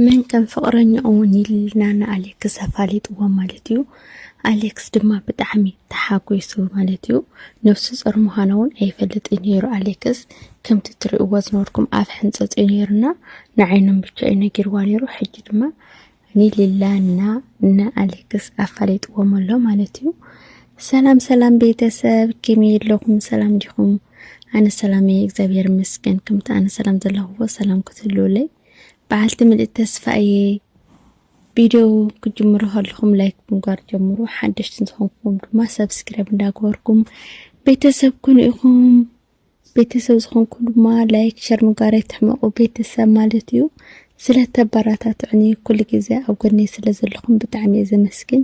መን ከም ፍቕረኛኡ ኒልና ንኣሌክስ ኣፋሊጥዎ ማለት እዩ። ኣሌክስ ድማ ብጣዕሚ ተሓጒሱ ማለት እዩ። ነብሱ ጾር ምዃና እውን ኣይፈልጥን ነይሩ ኣሌክስ። ከምቲ ትርእይዎ ዝነበርኩም ኣብ ሕንጸጽ እዩ ነይሩና ንዓይኖም ብቻ እዩ ነጊርዋ ነይሩ። ሕጂ ድማ ኒልላና ንኣሌክስ ኣፋሊጥዎም ኣሎ ማለት እዩ። ሰላም ሰላም ቤተሰብ ከመይ ኣለኹም? ሰላም ዲኹም? ኣነ ሰላም እየ እግዚኣብሔር ይመስገን። ከምቲ ኣነ ሰላም ዘለኹዎ ሰላም ክትህልውለይ በዓልቲ ምልእቲ ተስፋ እየ ቪድዮ ክጅምሩ ከለኹም ላይክ ምግባር ጀምሩ ሓደሽቲ ዝኾንኩም ድማ ሰብስክራይብ እንዳገበርኩም ቤተሰብ ኩኑ ኢኹም ቤተሰብ ዝኾንኩ ድማ ላይክ ሸር ምግባር ኣይትሕመቑ ቤተሰብ ማለት እዩ ስለተበራታትዕኒ ኩሉ ግዜ ኣብ ጎነይ ስለ ዘለኹም ብጣዕሚ እየ ዘመስግን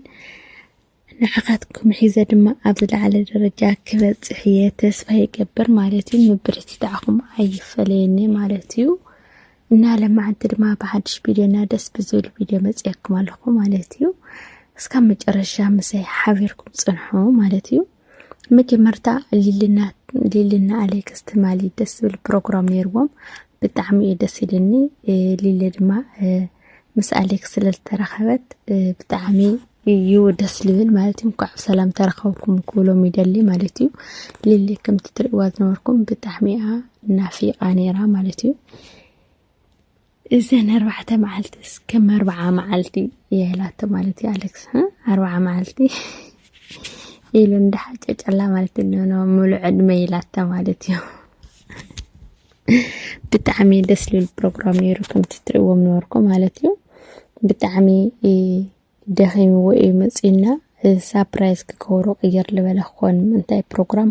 ንዓኻትኩም ሒዘ ድማ ኣብ ዝለዓለ ደረጃ ክበጽሕ እየ ተስፋ ይገብር ማለት እዩ። ምብርትታዕኹም ኣይፈለየኒ ማለት እዩ እና ለማዓንቲ ድማ ብሓድሽ ቪድዮ እና ደስ ብዝብል ቪድዮ መጽያኩም ኣለኹ ማለት እዩ። እስካብ መጨረሻ ምሳይ ሓቢርኩም ጽንሑ ማለት እዩ። መጀመርታ ሊልና ኣሌክስ ትማሊ ደስ ዝብል ፕሮግራም ነይርዎም ብጣዕሚ እዩ ደስ ኢልኒ ሊሊ ድማ ምስ ኣሌክስ ስለ ዝተረኸበት ብጣዕሚ እዩ ደስ ልብል ማለት እዩ እንኳዕ ብሰላም ተረኸብኩም ክብሎም ይደሊ ማለት እዩ ሊሊ ከምቲ ትርእዋ ዝነበርኩም ብጣዕሚ እያ ናፊቃ ነይራ ማለት እዩ እዘን ኣርባዕተ መዓልቲ እስከም ኣርባዓ መዓልቲ የህላቶ ማለት እዩ ኣሌክስ ኣርባዓ መዓልቲ ኢሉ እንዳሓጨጨላ ማለት እዩ ምሉዕ ዕድመ ኢላታ ማለት እዩ ብጣዕሚ ደስ ልብል ፕሮግራም ነይሩ ከምቲ ትርእዎም ነበርኩም ማለት እዩ ብጣዕሚ ደኺምዎ እዩ መፅና ሳፕራይዝ ክገብሩ ቅይር ልበለ ክኾን ምንታይ ፕሮግራም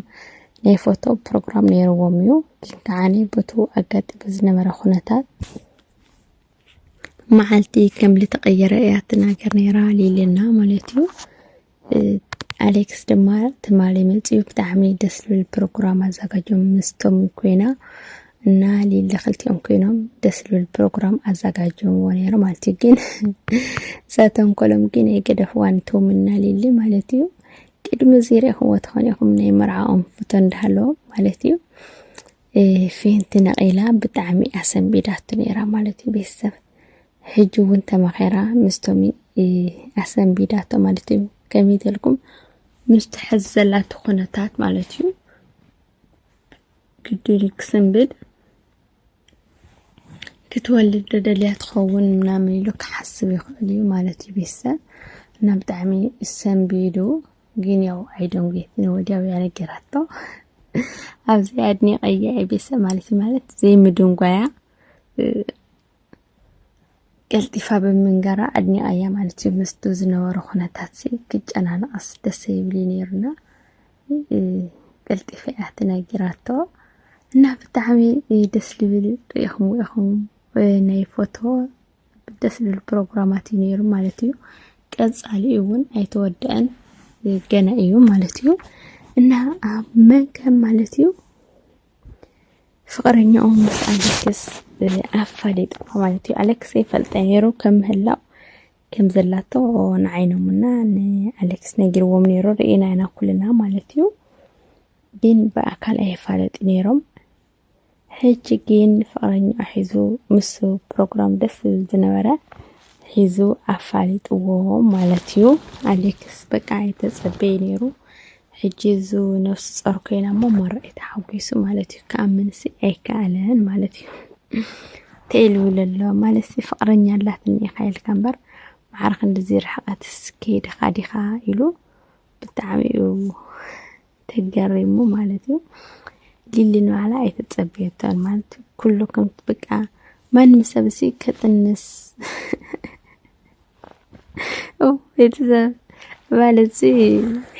ናይ ፎቶ ፕሮግራም ነይርዎም እዩ ግን ከዓኒ በቱ ኣጋጢሙ ዝነበረ ኩነታት መዓልቲ ከም ልተቐየረ እያ ትናገር ነይራ ሊልና ማለት እዩ ኣሌክስ ድማ ትማሊ መፅኡ ብጣዕሚ ደስ ዝብል ፕሮግራም ኣዘጋጆም ምስቶም ኮይና እና ሊሊ ክልቲኦም ኮይኖም ደስ ዝብል ፕሮግራም ኣዘጋጆምዎ ነይሩ ማለት እዩ ግን ዘተንኮሎም ግን የገደፍዋን ቶም እና ሊሊ ማለት እዩ ቅድሚ እዚ ሪኢኹምዎ ትኾኑ ኢኹም ናይ መርዓኦም ፍቶ እንዳሃለዎም ማለት እዩ ፌንቲ ነቒላ ብጣዕሚ እያ ሰንቢዳቶ ነይራ ማለት እዩ ቤተሰብ ሕጂ እውን ተመኼራ ምስቶሚ ኣሰንቢዳቶ ማለት እዩ ከመይ ተልኩም ምስ ትሕዝ ዘላቶ ኩነታት ማለት እዩ ግድል ክስንብድ ክትወልድ ዶ ደልያ ትኸውን ምናምን ኢሉ ክሓስብ ይኽእል እዩ ማለት እዩ ቤተሰብ እና ብጣዕሚ ሰንቢዱ ግን ያው ኣይደንጉየትን ወዲያው ያነገራቶ ኣብዚ ኣድኒቀያ ቤተሰብ ማለት ማለት ዘይምድንጓያ ቀልጢፋ ብምንገራ ኣድኒቀያ ማለት እዩ ምስቱ ዝነበረ ኩነታት ክጨናንቀስ ደስ ይብል ነይሩና ቀልጢፈ እያ ተነጊራቶ እና ብጣዕሚ ደስ ዝብል ሪኢኹም ኢኹም ናይ ፎቶ ደስ ዝብል ፕሮግራማት እዩ ነይሩ ማለት እዩ። ቀፃሊ እውን ኣይተወደአን ገና እዩ ማለት እዩ እና ኣብ መገብ ማለት እዩ ፍቅረኛኡ ምስ ኣሌክስ ኣፋሊጥዋ ማለት እዩ። ኣሌክስ ይፈልጠ ነይሩ ከም ምህላው ከም ዘላቶ ንዓይኖምና ንኣሌክስ ነጊርዎም ነይሩ ርኢና ኢና ኩልና ማለት እዩ። ግን ብኣካል ኣይፋለጥ ነይሮም ሕጂ ጊን ፍቅረኛኡ ሒዙ ምስ ፕሮግራም ደስ ዝብል ዝነበረ ሒዙ ኣፋሊጥዎ ማለት እዩ። ኣሌክስ በቃ ኣይተጸበየ ነይሩ። ሕጂ እዙ ነፍሱ ጸር ኮይና እሞ መራይ ተሓጒሱ ማለት እዩ ክኣምንሲ ኣይከኣለን ማለት እዩ ተኢሉ ለሎ ማለት ፍቕረኛ ኣላትኒ ኢኻ ኢልካ እምበር ማዕረ ክንዲዚ ርሕቐትስ ከይድኻ ዲኻ ኢሉ ብጣዕሚ እዩ ተገሪሙ ማለት እዩ ሊሊ ንባዕላ ኣይተጸበየቶን ማለት እዩ ኩሉ ከም በቃ ማንም ሰብ እሲ ከጥንስ ቤተሰብ ማለት እዚ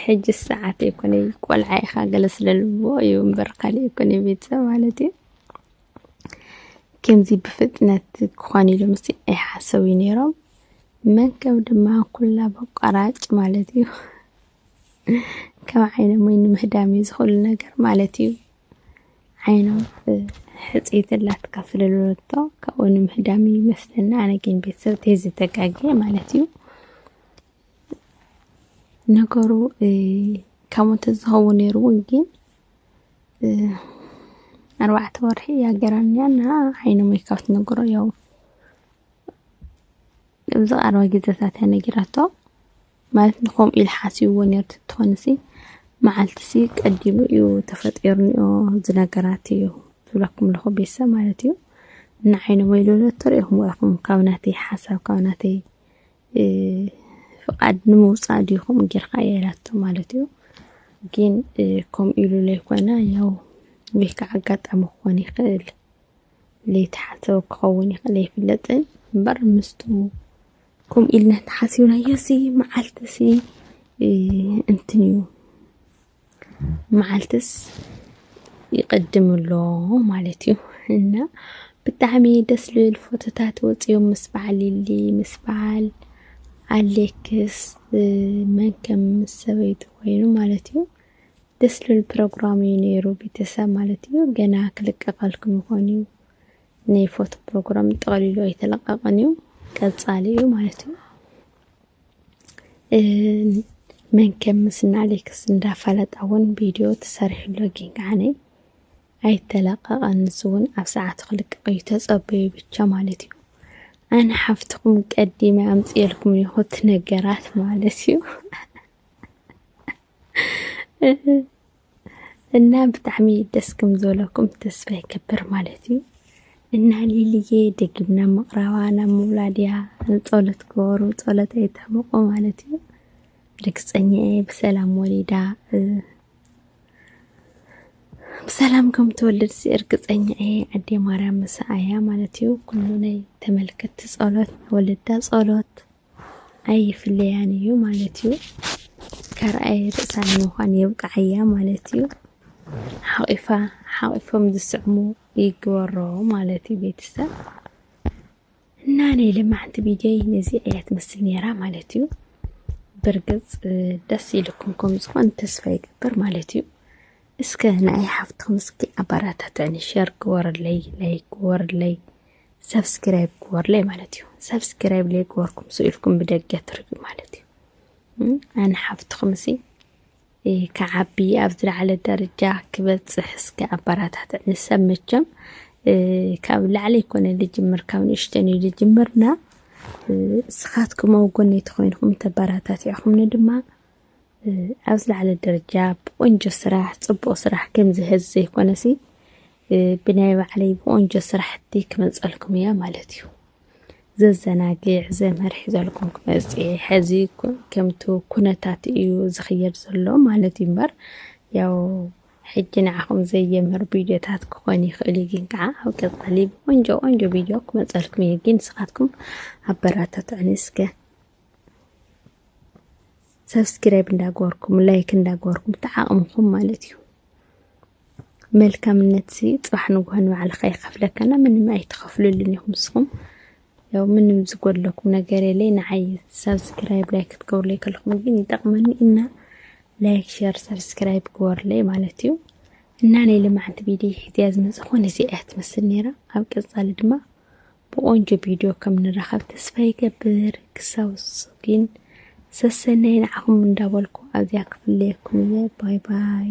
ሕጂ ሰዓት ኣይኮነ ቆልዓ ኢኻ ገለ ስለልዎ እዩ እምበር ካልእ ኣይኮነ ቤተሰብ ማለት እዩ ከምዚ ብፍጥነት ክኾን ኢሉ ምስ ኣይሓሰቡ ነይሮም መንከብ ድማ ኩላ በቋራጭ ማለት እዩ ከም ዓይኖም ወይ ንምህዳም እዩ ዝኽእሉ ነገር ማለት እዩ ዓይኖም ሕፅይቲ ኣላትካ ስለዝበለቶ ካብኡ ንምህዳም እዩ ይመስለኒ ኣነ ግን ቤተሰብ ተይ ዝተጋገ ማለት እዩ ነገሩ ካብ ሞተ ዝኸውን ነይሩ እውን ግን ኣርባዕተ ወርሒ እያ ገራን እያ እና ዓይኖም ወይ ካብ ትነገሮ ያው ኣብዚ ቀረባ ግዘታት እያ ነጊራቶ ማለት ንከምኡ ኢሉ ሓሲብዎ ኔሩ ተትኾንሲ መዓልቲሲ ቀዲሙ እዩ ተፈጢሩኒኦ ዝነገራት እዩ ዝብለኩም ኣለኹ ቤተሰብ ማለት እዩ ንዓይ ንበይሉ ተሪእኹም ኢኹም ካብ ናተይ ሓሳብ ካብ ናተይ ፍቃድ ንምውፃእ ዲኹም ጌርካ የላቶ ማለት እዩ ግን ከምኡ ኢሉ ዘይኮነ ያው ወይ ከዓ ኣጋጣሚ ክኾን ይኽእል ለይተሓሰበ ክኸውን ይኽእል ኣይፍለጥን እምበር ምስቱ ከምኡ ኢልና ተሓሲብናዮሲ መዓልትሲ እንትን እዩ መዓልትስ ይቕድም ኣሎ ማለት እዩ እና ብጣዕሚ ደስ ልብል ፎቶታት ወፂኦም ምስ በዓል ኢሊ ምስ በዓል ኣሌክስ መን ከም ምስ ሰበይቱ ኮይኑ ማለት እዩ ደስ ልብል ፕሮግራም እዩ ነይሩ ቤተሰብ ማለት እዩ ገና ክልቀቀልኩም ይኾን እዩ ናይ ፎቶ ፕሮግራም ጠቕሊሉ ኣይተለቀቐን እዩ ቀፃሊ እዩ ማለት እዩ መንከም ምስና ኣሌክስ እንዳፈለጣ እውን ቪድዮ ተሰሪሕሎ ግን ከዓነ ኣይተለቀቐን ንሱ እውን ኣብ ሰዓቱ ክልቀቕ እዩ ተፀበዩ ብቻ ማለት እዩ ኣነ ሓፍትኹም ቀዲመ ኣምፅኤልኩም ይኹት ነገራት ማለት እዩ እና ብጣዕሚ ደስ ከም ዝበለኩም ተስፋ ይገብር ማለት እዩ እና ሊልዬ ደጊምና ምቕራባ ናብ ምውላድ እያ ንፀሎት ክበሩ ፀሎት ኣይተሕምቑ ማለት እዩ ርግፀኛ እየ ብሰላም ወሊዳ ብሰላም ከም ትወልድ እርግፀኛ እየ ኣዴ ማርያም ምሳኣያ ማለት እዩ ኩሉ ናይ ተመልከትቲ ፀሎት ወለዳ ፀሎት ኣይፍለያን እዩ ማለት እዩ። ካልኣይ ርእሳ ንምዃን የብቅዓያ ማለት እዩ። ሓቂፋ ሓቂፎም ዝስዕሙ ይግበሮ ማለት እዩ ቤተሰብ እና ናይ ልማዕንቲ ቢደይ ነዚ እያ ትመስል ነይራ ማለት እዩ። ብርግፅ ደስ ኢልኩም ከም ዝኾን ተስፋ ይገብር ማለት እዩ። እስከ ንኣይ ሓፍትኩም እስኪ ኣባራታትዕኒ ሸር ግበርለይ ላይክ ግበርለይ ሰብስክራይብ ግበርለይ ማለት እዩ ሰብስክራይብ ለይ ግበርኩም ሱ ኢልኩም ብደገ ትርኢ ማለት እዩ ኣነ ሓፍትኹም እሲ ክዓቢ ኣብ ዝለዓለ ደረጃ ክበፅሕ እስከ ኣባራታት ንሰብ መቸም ካብ ላዕለ ይኮነ ልጅምር ካብ ንእሽተን እዩ ልጅምርና እስኻትኩም ኣብ ጎነይ ተኮይንኩም ተበራታት ኢኹምኒ ድማ ኣብ ዝለዓለ ደረጃ ብቆንጆ ስራሕ ፅቡቅ ስራሕ ከምዚ ሀዚ ዘይኮነሲ ብናይ ባዕለይ ብቆንጆ ስራሕቲ ክመፀልኩም እያ ማለት እዩ ዘዘናግዕ ዘምህር ሒዘልኩም ክመፅ ሐዚ ከምቲ ኩነታት እዩ ዝኽየድ ዘሎ ማለት እዩ እምበር ያው ሕጂ ንዓኹም ዘየምህር ቪድዮታት ክኾን ይኽእል እዩ ግን ከዓ ኣብ ቀፃሊ ብቆንጆ ቆንጆ ቪድዮ ክመፀልኩም እየ ግን ንስኻትኩም ኣበራታትዕኒ እስከ ሰብስክራይብ እንዳገበርኩም ላይክ እንዳገበርኩም ተዓቕምኹም ማለት እዩ መልካምነት ሲ ፅባሕ ንጉሆ ንባዕልካ ይኸፍለካና ምንም ኣይትኸፍሉልን ኢኹም ንስኹም ያው ምንም ዝጎድለኩም ነገር የለይ ንዓይ ሰብስክራይብ ላይክ ክትገብሩለይ ከለኹም ግን ይጠቕመኒ እና ላይክ ሸር ሰብስክራይብ ግበሩለይ ማለት እዩ እና ናይ ልምዓንቲ ቪድዮ ሕዝያ ዝመፀ ኮነ እዚኣ እያ ትመስል ነይራ ኣብ ቀፃሊ ድማ ብቆንጆ ቪድዮ ከም ንራኸብ ተስፋ ይገብር ክሳብ ዝሱ ግን ሰሰናይ ንዓኹም እንዳበልኩ ኣዝያ ክፍለየኩም እየ ባይ ባይ